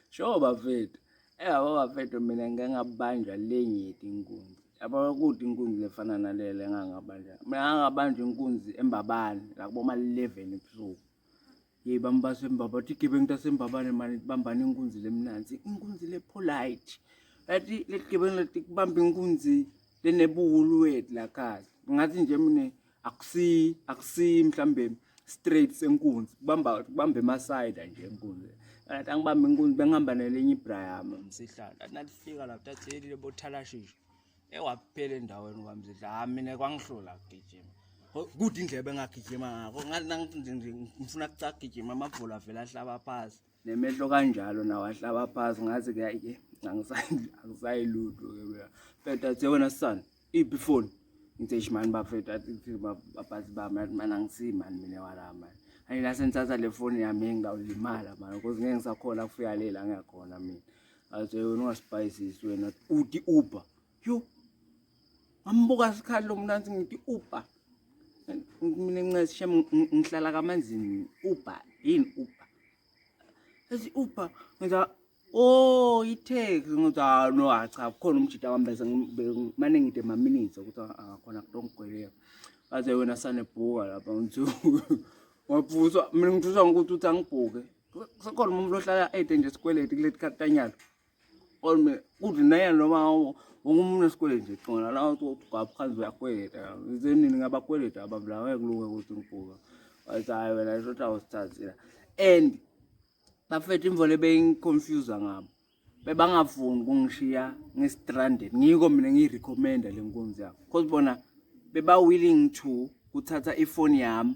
Sho bafethu. Eyabo bafethu mina ngike ngabanjwa le ngithi inkunzi. Yabo kude inkunzi lefana nalele engangabanjwa. Mina ngangabanjwa inkunzi embabane la kuboma 11 ebusuku. Yeyi bami basembaba bathi igebengu tasembabane mani bambani inkunzi lemnanzi. Inkunzi le polite. Yathi le gebengu lathi kubamba inkunzi lenebuhulu wethu la khaya. Ngathi nje mina akusi akusi mhlambe straight senkunzi kubamba kubamba emasayida nje enkunzi athi angibambe inkunzi bengihamba nelinye ibra yami msihlalo athi nalifika lapho tatheli lebothalashisha ewaphela endaweni kwamzidla ha mina kwangihlula kugijima kude indlebe engagijima ngako ngifuna kucagijima amabhola avela ahlaba phasi nemehlo kanjalo nawo ahlaba phansi ngathi ke ayike angisayilutho ke mina feta athe wena son iphi ifoni ngithe shimani bafethu athi baphathi bami athi mani angisiyi mani mina wala mani ayi la sengithatha le foni yami engawulimala mani cause ngeke ngisakhona kufika lela ngiyakhona mina athe wena ungasibhayisisi wena uti uber yo ngambuka sikhali lo mnansi ngithi uba mina ncesi shem ngihlala kamanzini uba yini uba ethi uba ngiza oh ithex ngithi ah no ah, cha kukhona umjita wami bese mane ngide maminitsi ukuthi akakhona ah, kutongigweleka baze wena sanebhuka lapha ngithi waphuswa mina ngithuswa ngokuthi uthi angibhuke sekhona umuntu ohlala ede nje sikweleti kuleti khatanyalo Olme kuthi naye noma wonke umuntu esikweleti nje qona la uthi ugaphansi uyakweleta izenini ngabakweleti abantu la ngeke kulunge ukuthi ngibhuka wathi hayi wena isho ukuthi awusithathile and bafethu imvole beyingiconfuse ngabo bebangafuni kungishiya ngi-stranded ngiko mina ngiyirecommenda le nkunzi yabo because bona beba-willing to kuthatha ifoni yami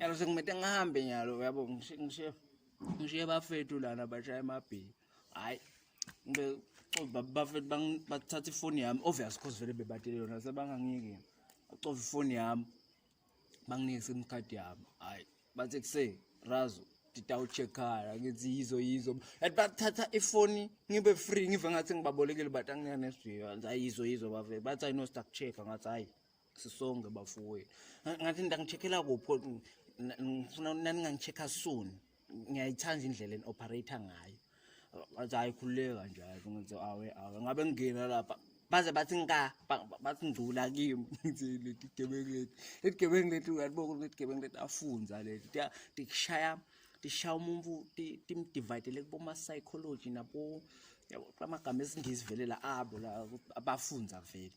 Yalo sekumete ngihambe nyalo yabo ngishiye ngishiye bafethu lana bashaya emabhini. Hayi ngibe bafethu bathatha ifoni yami obvious cause vele bebatele yona sebangangiyeki. Acova ifoni yami banginike sim card yami. Hayi bathe kuse razo nditawutshekhala ngithi yizo yizo and bathatha ifoni ngibe free ngive ngathi ngibabolekile but anginyanesviyo ayizo yizo bavele bathi ayinosta kucheka ngathi hayi sisonke bafowethu ngathi ndangicheckela kupho ngifuna naningangicheckha soon ngiyayithanda indlela eni-operator ngayo bathi hayi khululeka nje hayi ngithi awe awe ngabe ngingena lapha baze bathi nka bathi ngcula kimi ngithi leti gebengu leti leti gebengu leti uyalibona ukuthi leti gebengu leti afunza leti tikushaya tishaya umuntu timdividele kuboma-psychology nabo amagama esingisi vele la abo la abafunza vele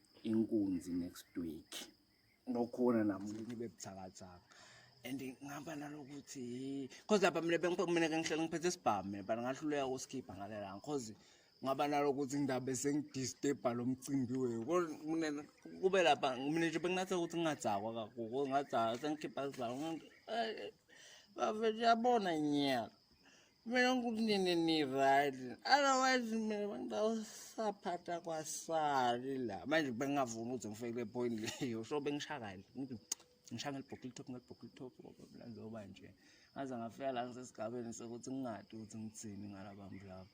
inkunzi next week nokhona namlimi bebuthakathaka and ngihamba nalokuthi cause lapha mina bengiphakumina ke ngihlele ngiphethe isibhamu but ngahluleka ukusikhipha ngale la cause ngaba nalokuthi ngidabe sengidisturba lo mcimbi weyo kube lapha mina nje benginathe ukuthi ngingadzakwa kakhulu ngadzakwa sengikhipha sizalo bafethu yabona nyaka kumele ngikunini ni-right otherwise mina bangidawusaphatha kwasali la manje bengingavumi ukuthi ngifike kule point leyo so bengishakale ngithi ngishaya ngelibhokile top ngelibhokile top njengoba nje ngaze ngafika la ngisesigabeni sokuthi ngingadi ukuthi ngithini ngalabantu labo